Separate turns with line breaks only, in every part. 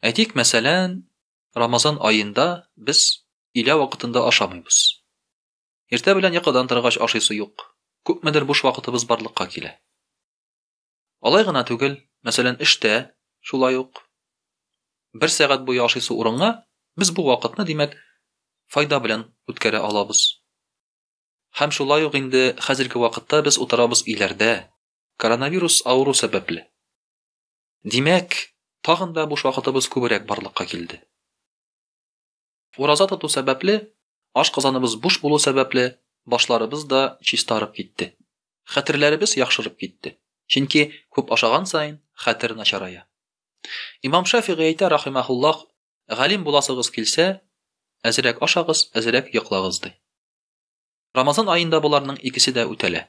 Әйтик, мәсәлән, Рамазан аенда без илә вакытында ашамыйбыз. Иртә белән йокыдан торгач ашыйсы юк. Күпмедер буш вакытыбыз барлыкка килә. Алай гына түгел, мәсәлән, эштә шулай ук бер сәгать буе ашыйсы урынга без бу вакытны, димәк, файда белән үткәрә алабыз. Һәм шулай ук инде хәзерге вакытта без утырабыз иләрдә, коронавирус авыру сәбәпле. Димәк, тагын да буш вакытыбыз күбрәк барлыкка килде. Ураза тоту сәбәпле, ашказаныбыз буш булу сәбәпле, башларыбыз да чистарып китте. Хәтерләребез яхшырып китте. Чөнки күп ашаган саен хәтер начарая. Имам Шафигый әйтә рахимахуллах, галим буласыгыз килсә, әзрәк ашагыз, әзрәк йоклагыз ди. Рамазан аенда боларның икесе дә үтәлә.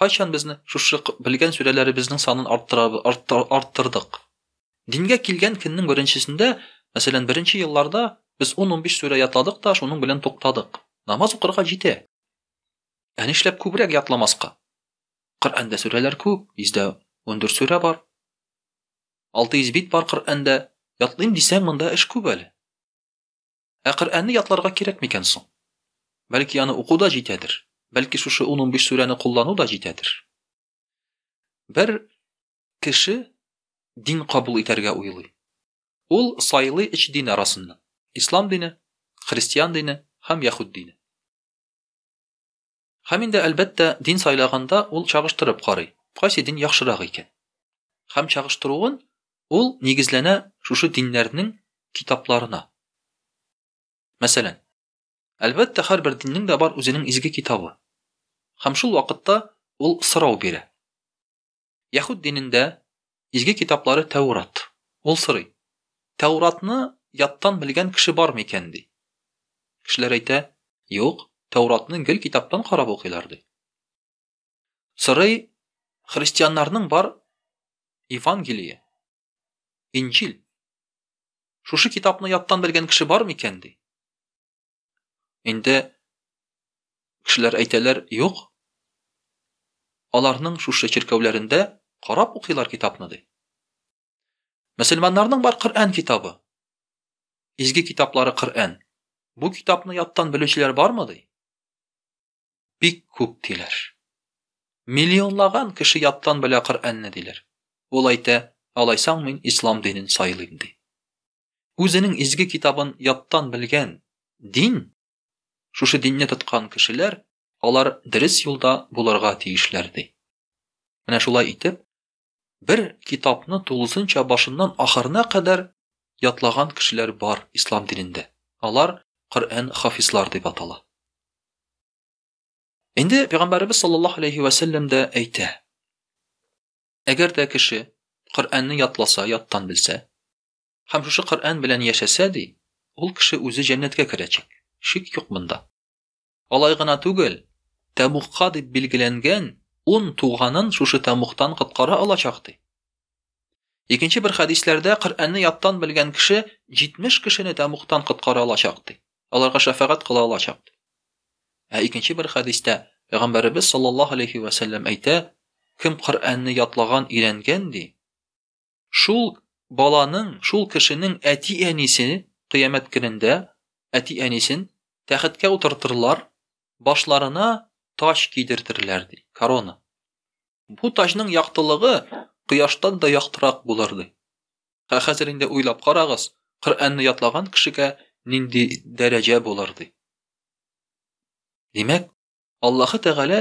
Кайчан безне шушы белгән сүрәләребезнең санын арттырдык? Дингә килгән көннең беренчесендә, мәсәлән, беренче елларда без ун-унбиш сүрә ятладык та, шуның белән туктадык. Намаз укырга җитә. Ә нишләп күбрәк ятламаска? Коръәндә сүрәләр күп, 114 сүрә бар. 600 бит бар Коръәндә. Ятлыйм дисәң, монда эш күп әле. Ә Коръәнне ятларга кирәк микән соң? Бәлки аны уку да җитәдер? Бәлки шушы 10-15 сүрәне куллану да җитәдер? Бер кеше дин кабул итәргә уйлый. Ул сайлый өч дин арасыннан. Ислам дине, христиан дине һәм яхуд дине. Һәм инде, әлбәттә, дин сайлаганда ул чагыштырып карый, кайсы дин яхшырак икән. Һәм чагыштыруын ул нигезләнә шушы диннәрнең китапларына. Мәсәлән, әлбәттә, һәрбер диннең дә бар үзенең изге китабы. Һәм шул вакытта ул сорау бирә. Яһүд динендә изге китаплары Тәүрат. Ул сорый, Тәүратны яттан белгән кеше бармы икән, ди. Кешеләр әйтә, Юк, Тәүратны гел китаптан карап укыйлар, ди. Сорый, Христианнарның бар Евангелие, Инҗил. Шушы китапны яттан белгән кеше бармы икән, ди. Инде кешеләр әйтәләр, юк. Аларның шушы чиркәүләрендә карап укыйлар китапны ди. Мөселманнарның бар Коръән китабы. Изге китаплары Коръән. Бу китапны яттан белүчеләр бармы ди? Бик күп диләр. Миллионлаган кеше яттан белә Коръәнне диләр. Ул әйтә, алайсаң мин ислам динен сайлыйм ди. Үзенең изге китабын яттан белгән дин, шушы динне тоткан кешеләр, алар дөрес юлда булырга тиешләр ди. Менә шулай итеп, бер китапны тулысынча башыннан ахырына кадәр ятлаган кешеләр бар ислам динендә. Алар Коръән хафизлар дип атала. Инде пәйгамбәребез саллаллаһу алейхи ва саллям да әйтә. Әгәр дә кеше Коръәнне ятласа, яттан белсә, Һәм шушы Коръән белән яшәсә, ди, ул кеше үзе җәннәткә керәчәк. Шик юк монда. Алай гына түгел, Тәмугка дип билгеләнгән ун туганын шушы Тәмугтан коткара алачак, ди. Икенче бер хәдисләрдә Коръәнне яттан белгән кеше 70 кешене Тәмугтан коткара алачак, ди. Аларга шәфәгать кыла алачак, ди. Ә икенче бер хәдистә Пәйгамбәребез саллаллаһу алейхи ва сәлләм әйтә, кем Коръәнне ятлаган, өйрәнгән, ди, Шул баланың, шул кешенең әти-әнисе кыямәт көнендә әти-әнисен тәхеткә утыртырлар, башларына таҗ кидертерләр, ди, корона. Бу таҗның яктылыгы кояштан да яктырак булыр, ди. Ә хәзер инде уйлап карагыз, Коръәнне ятлаган кешегә нинди дәрәҗә булыр, ди. Димәк, Аллаһы Тәгалә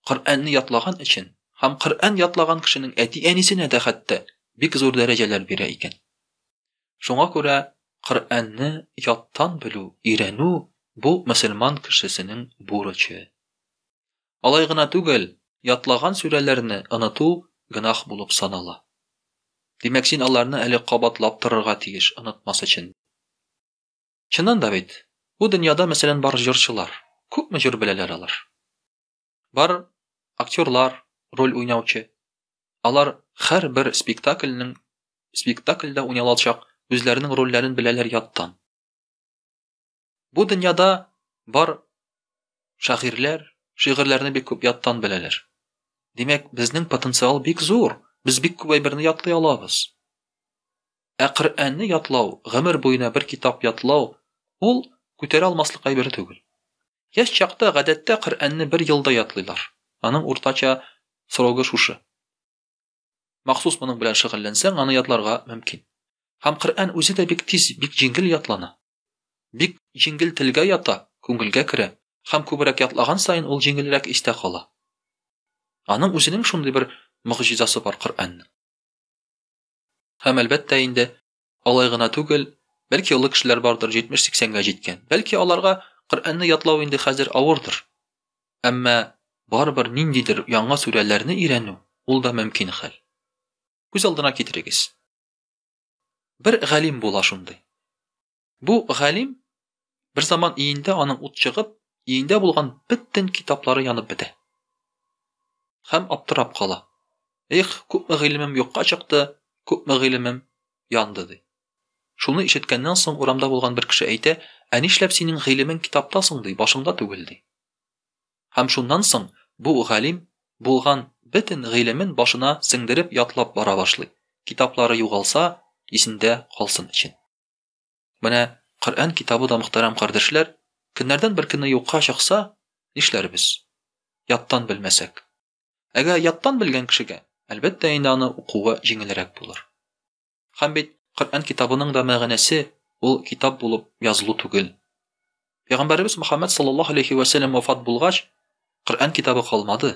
Коръәнне ятлаган өчен һәм Коръән ятлаган кешенең әти-әнисенә дә хәтта бик зур дәрәҗәләр бирә икән. Шуңа күрә Коръәнне яттан белү, өйрәнү бу мөселман кешесенең бурычы. Алай гына түгел, ятлаган сүрәләрне оныту гөнаһ булып санала. Димәк, син аларны әле кабатлап торырга тиеш, онытмас өчен. Чыннан да бит, бу дөньяда, мәсәлән, бар җырчылар. Күпме җыр беләләр алар? Бар актерлар, роль уйнаучы. Алар хәр бер спектакльнең спектакльдә уйналачак үзләренең рольләрен беләләр яттан. Бу дөньяда бар шагыйрьләр шигырьләрне бик күп яттан беләләр. Димәк, безнең потенциал бик зур. Без бик күп әйберне ятлый алабыз. Ә Коръәнне ятлау, гомер буена бер китап ятлау, ул күтәрә алмаслык әйбер түгел. Яшь чакта, гадәттә, Коръәнне бер елда ятлыйлар. Аның уртача срогы шушы. Махсус моның белән шөгыльләнсәң, аны ятларга мөмкин. Һәм Коръән үзе дә бик тиз, бик җиңел ятлана. Бик җиңел телгә ята, күңелгә керә. Һәм күбрәк ятлаган саен ул җиңелрәк истә кала. Аның үзенең шундый бер могҗизасы бар Коръәннең. Һәм, әлбәттә инде, алай гына түгел, бәлки олы кешеләр бардыр, 70-80-гә җиткән. Бәлки аларга Коръәнне ятлау инде хәзер авырдыр. Әмма барыбер ниндидер яңа сүрәләрне өйрәнү, ул да мөмкин хәл. Күз алдына китерегез. Бер галим була шундый. Бу галим берзаман иендә аның ут чыгып, иендә булган бөтен китаплары янып бетә. Хәм аптырап кала. Их, күпме гыйлемем юкка чыкты, күпме гыйлемем янды ди. Шуны ишеткәннән соң урамда булган бер кеше әйтә, ә нишләп синең гыйлемең китапта соң ди, башыңда түгел ди. Һәм шуннан соң бу галим булган бөтен гыйлемен башына сеңдереп ятлап бара башлый. Китаплары югалса, исендә калсын өчен. Менә Коръән китабы да мөхтәрәм кардәшләр, көннәрдән бер көнне юкка чыкса, нишләрбез? Яттан белмәсәк. Әгәр яттан белгән кешегә, әлбәттә инде аны укуы җиңелрәк булыр. Һәм бит Коръән китабының да мәгънәсе ул китап булып язылу түгел. Пәйгамбәребез Мөхәммәд саллаллаһу алейхи вә сәлләм вафат булгач, Коръән китабы калмады.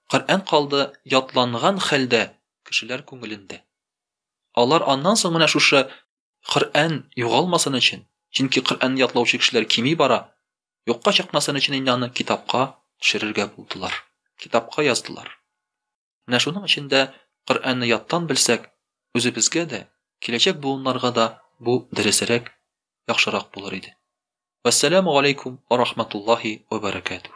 Коръән калды ятланган хәлдә кешеләр күңелендә. Алар аннан соң менә шушы Коръән югалмасын өчен, чөнки Коръәнне ятлаучы кешеләр кими бара, юкка чыкмасын өчен инде аны китапка төшерергә булдылар. Китапка яздылар. Менә шуның өчен дә Коръәнне яттан белсәк, үзебезгә дә, киләчәк буыннарга да бу дөресрәк, яхшырак булыр иде. Вәссәламу галәйкүм ва рахматуллаһи ва бәрәкәтүһ.